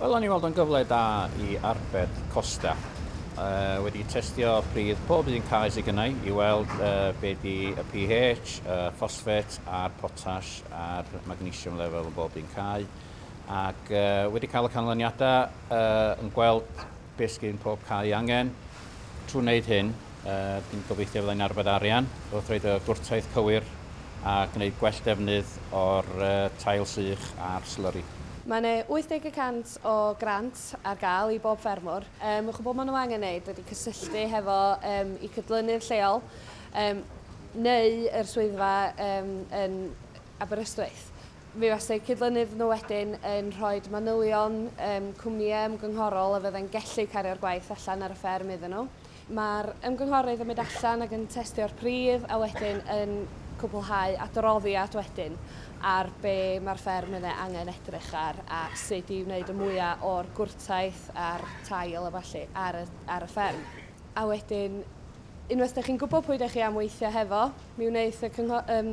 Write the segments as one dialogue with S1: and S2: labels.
S1: Wel, o'n i'n weld o'n gyfle da i arbed costau. Uh, wedi testio pridd pob un cae sydd gynnau i weld uh, be di y pH, y ffosfet a'r potas a'r magnesium level yn bob un cae. Ac uh, wedi cael y canlyniadau uh, yn gweld Beth sy'n pob cae ei angen? Trwy wneud hyn, dwi'n gobeithio fydda i'n arbed arian wrth roid y gwrtaith cywir a gwneud gwell defnydd o'r tail sych a'r slurry. Mae yna 80 y cant o grant ar gael i bob ffermwr. Mae chwbl maen nhw angen wneud ydy cysylltu hefo eu cydlynydd lleol neu yr swyddfa yn Aberystwyth. Fe fasai cydlynydd nhw wedyn yn rhoi manylion um, cwmnïau ymgynghorol a fydden gellu cario'r gwaith allan ar y fferm iddyn nhw. Mae'r ymgynghorydd yn mynd allan ac yn testio'r pridd a wedyn yn cwblhau adroddiad wedyn ar be mae'r fferm yn ei angen edrych ar a sut i wneud y mwyaf o'r gwrtaith a'r tail a falle ar y, ar y fferm. A wedyn Unwaith dych chi'n gwybod pwy dych chi am weithio hefo, mi wneith y cyngho- um,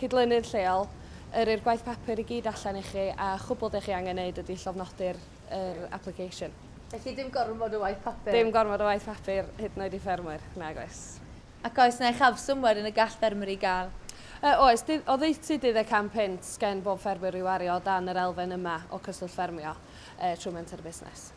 S1: cydlynydd lleol yrru'r gwaith papur i gyd allan i chi a chwbl dych chi angen wneud ydy llofnodi'r er application. Felly dim gormod o waith papur? Dim gormod o waith papur, hyd yn oed i ffermwyr, nag oes. Ac oes yna uchafswm wedyn y gall ffermwyr ei gael? Uh, oes, dydd, oddeutu dydd y cam punt gen bob ffermwyr i wario o dan yr elfen yma o cyswllt ffermio uh, trwy menter y busnes.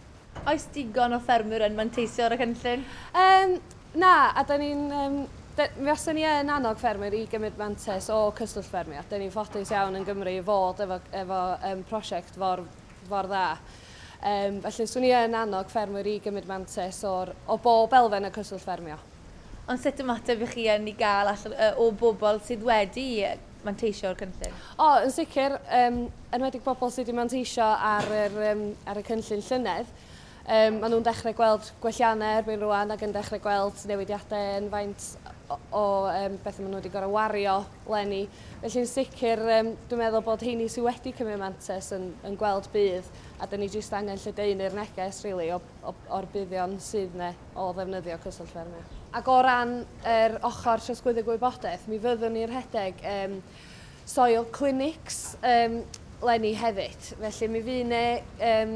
S1: Oes digon o ffermwyr yn manteisio ar y cynllun? Yym, na, a da ni'n... Um, da, mi fasa ni yn annog ffermwyr i gymryd mantes o cyswllt ffermio. Da ni'n ffodus iawn yn Gymru i fod efo, efo um, prosiect for, for dda. Um, felly, swn i yn annog ffermwyr i gymryd mantes o'r, o bob elfen y cyswllt ffermio. Ond sut ymateb i chi yn i gael allan o bobl sydd wedi manteisio o'r cynllun? O, yn sicr, um, enwedig bobl sydd wedi manteisio ar, yr, um, ar y cynllun llynedd. Um, maen nhw'n dechrau gweld gwelliannau erbyn rwan ac yn dechrau gweld newidiadau yn faint o, o um, beth maen nhw wedi gorau wario lenni. Felly'n sicr, um, dwi'n meddwl bod heini sydd wedi cymryd mantes yn, yn gweld bydd a dyn ni jyst angen lledaenu'r neges really, o, o, o'r buddion sydd yna. o ddefnyddio Cyswllt Ffermio. Ac o ran yr ochr trosglwyddo gwybodaeth, mi fyddwn ni'n rhedeg um, soil clinics um, lenni hefyd. Felly mi fydd yna um,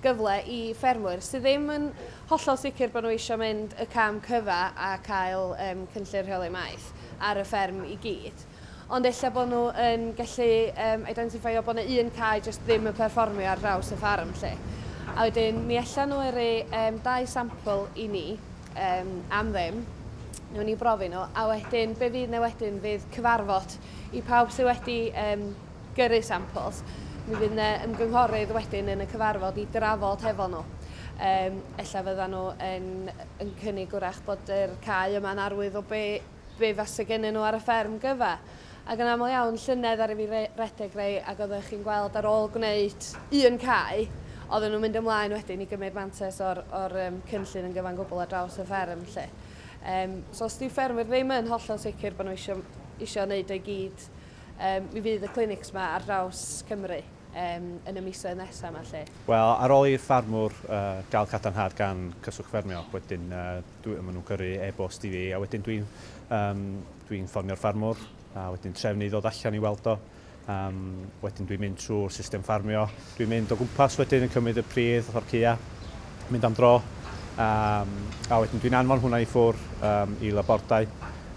S1: gyfle i ffermwyr sydd ddim yn hollol sicr bod nhw eisiau mynd y cam cyfa a cael um, cynllun rheoli maeth ar y fferm i gyd. Ond ella bod nhw yn gallu um, identifeio bod yna un cae jyst ddim yn perfformio ar draws y ffarm lle. A wedyn mi allan nhw yrru um, dau sampl i ni um, am ddim, nhw'n ni brofi nhw, a wedyn be fydd na wedyn fydd cyfarfod i pawb sydd wedi um, gyrru samples. Mi fydd yna ymgynghorydd wedyn yn y cyfarfod i drafod hefo nhw. Um, ella fydda nhw yn, yn cynnig wrach bod yr cae yma'n arwydd o be be fase gennyn nhw ar y fferm gyfa. Ac yn aml iawn, llynedd aru fi re- redeg rei ac oeddech chi'n gweld ar ôl gwneud un cae, oedden nhw'n mynd ymlaen wedyn i gymryd mantes o'r, o'r um, cynllun yn gyfan gwbl ar draws y fferm lle. Um, so os di ffermwyr ddim yn hollol sicr bod nhw eisiau, eisiau wneud o'i gyd, um, mi fydd y clinics yma ar draws Cymru um, yn y misoedd nesaf yma lle. Wel, ar ôl i'r ffarmwr uh, gael cadarnhad gan Cyswllt Ffermio, wedyn uh, dwi, maen nhw'n gyrru e-bost i fi, a wedyn dwi'n um, dwi ffonio'r ffarmwr, a wedyn trefnu i ddod allan i weld o. Um, wedyn dwi'n mynd trwy'r system ffarmio, dwi'n mynd o gwmpas wedyn yn cymryd y pridd o'r cya, mynd am dro, um, a wedyn dwi'n anfon hwnna i ffwr um, i labordau,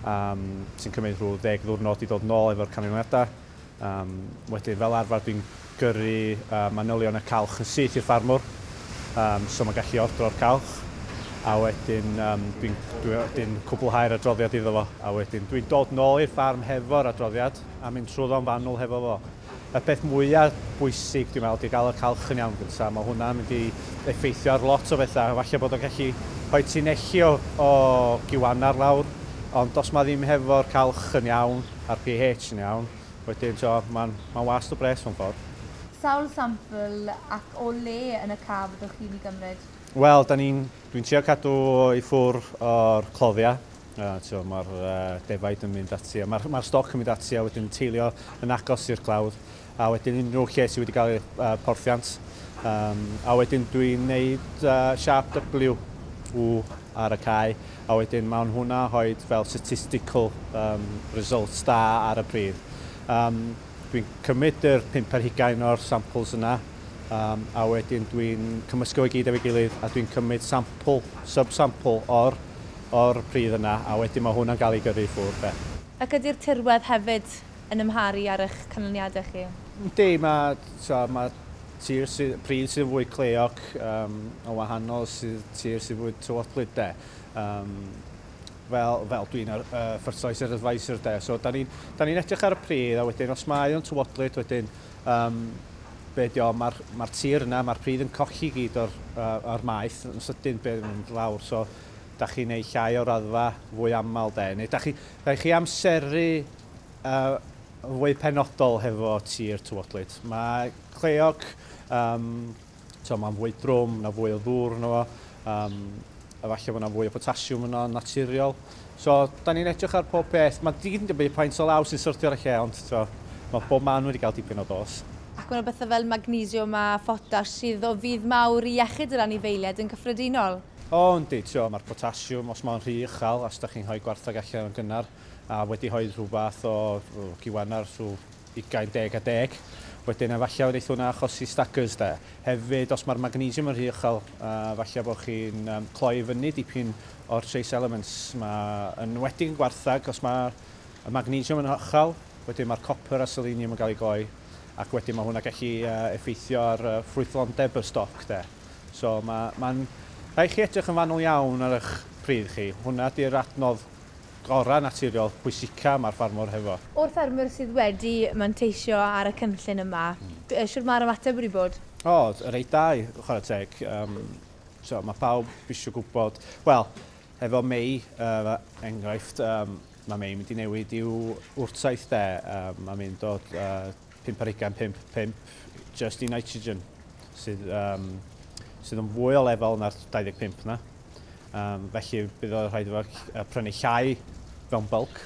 S1: um, sy'n cymryd rhyw ddeg ddwrnod i ddod nôl efo'r canlyniadau. Um, wedyn, fel arfer, dwi'n gyrru uh, manylion y calch yn syth i'r ffarmwr, um, so mae'n gallu ordro'r calch, a wedyn um, dwi'n dwi, dwi cwblhau'r adroddiad iddo fo, a wedyn dwi'n dod nôl i'r ffarm hefo'r adroddiad a mynd trwyddo'n fanwl hefo fo. Y peth mwyaf bwysig, dwi'n meddwl, di gael y calch yn iawn gyntaf. Mae hwnna'n mynd i effeithio ar lot o bethau. Falle bod o'n gallu rhoi ti'n echi o, o giwannar lawr, ond os mae ddim hefo'r calch yn iawn, a'r pH yn iawn, wedyn t'wod ma'n ma'n wast o bres mewn ffordd. Sawl sampl ac o le yn y ca fyddwch chi'n i gymryd? Wel 'dan ni'n, dwi'n trio cadw i ffwr o'r cloddia, yy t'wo ma'r yy defaid yn mynd ati a ma'r ma'r stoc yn mynd ati a wedyn teilio yn agos i'r clawdd. a wedyn unrhyw lle sydd wedi cael ei uh, porthiant. Um, a wedyn dwi'n gwneud uh, siap W, W ar y cae, a wedyn mae'n hwnna hoed fel statistical um, results da ar y pridd. Um, dwi'n cymryd yr pimp ar hugain o'r samples yna, um, a wedyn dwi'n cymysgu o'i gyd efo'i gilydd, a dwi'n cymryd sample, sub-sample o'r, or pridd yna, a wedyn mae hwnna'n cael ei gyrru i ffwrdd. Ac ydy'r tirwedd hefyd yn amharu ar eich canlyniadau chi? Yndi, mae, tibod, mae tir sy, pryd sydd fwy cleog um, o wahanol sydd tir sydd fwy tywodlyd de. Um, fel, fel dwi'n ar, uh, fertilizer advisor de. So, da ni'n ni, ni edrych ar y pridd a wedyn os mae o'n tywodlyd wedyn um, be di o, mae'r ma tir yna, mae'r pridd yn cochi gyd o'r, uh, or maeth yn sydyn beth yn mynd lawr. So, da chi'n ei llai o raddfa fwy aml de. Neu da chi, Rhaid chi amseru yn fwy penodol hefo tir tywodlyd. Mae cleog, um, to, mae'n fwy drwm, na fwy o ddŵr yno fo, um, efallai bod yna fwy o potasiwm yno yn naturiol. So, da ni'n edrych ar pob peth. Mae digyd yn dibynnu paint o law sy'n syrthio ar y lle, ond to, mae bob man wedi cael dipyn o dos. Ac mae yna bethau fel magnesiwm a photas sydd o fudd mawr i iechyd yr anifeiliaid yn gyffredinol. O yndi, ti'o, ma'r potasiwm, os mae o'n rhy uchel, a os 'da chi'n rhoi gwartheg allan yn gynnar, a wedi rhoi rhyw fath o giwan ar rhyw ugain deg a deg, wedyn efallai wneith hwnna achosi staggers 'de. Hefyd, os mae'r magnesiwm yn rhy uchel, efallai bod chi'n cloi i fyny dipyn o'r trace elements 'ma, yn enwedig yn gwartheg, os mae y magnesiwm yn uchel, wedyn mae'r copr a seleniwm yn cael eu gloi. ac wedyn mae hwnna gallu effeithio ar ffrwythlondeb y stoc de. So mae, mae'n rhaid chi edrych yn fanwl iawn ar eich pridd chi. Hwnna di'r adnodd gorau naturiol pwysica mae'r ffarmwr hefo. O'r ffermwyr sydd wedi manteisio ar y cynllun yma, shwt mae'r ymateb wedi bod? O, reit da i chwarae teg. Yym, so mae pawb isio gwybod. Wel, Efo Mei, er enghraifft, mae Mei yn mynd i newid i'w wrtaith de, mae'n mynd o 5 ar hugain 5, 5 jyst i nitrogen, sydd, um, sydd yn fwy o lefel na'r 25 na. Um, felly bydd o'n rhaid efo prynu llai fewn bulk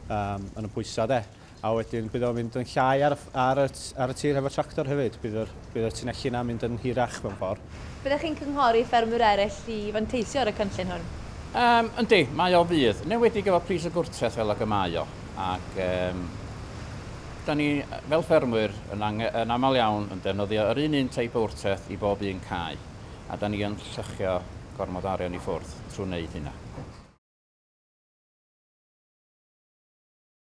S1: um, yn y pwysau de. A wedyn bydd o'n mynd yn llai ar y ar y ar y tir hefo tractor hefyd. Bydd yr bydd y tunelli yna'n mynd yn hirach mewn ffordd. Byddech chi'n cynghori ffermwyr eraill i fanteisio ar y cynllun hwn? Yym, yndi, mae o fydd. Yn enwedig efo pris y gwrtaith fel ag y mae o. Ac yym, 'dan ni fel ffermwyr yn ange- yn aml iawn yn defnyddio yr un un teip o wrtaith i bob un cae. A 'dan ni yn lluchio gormod o arian i ffwrdd trw neud hynna.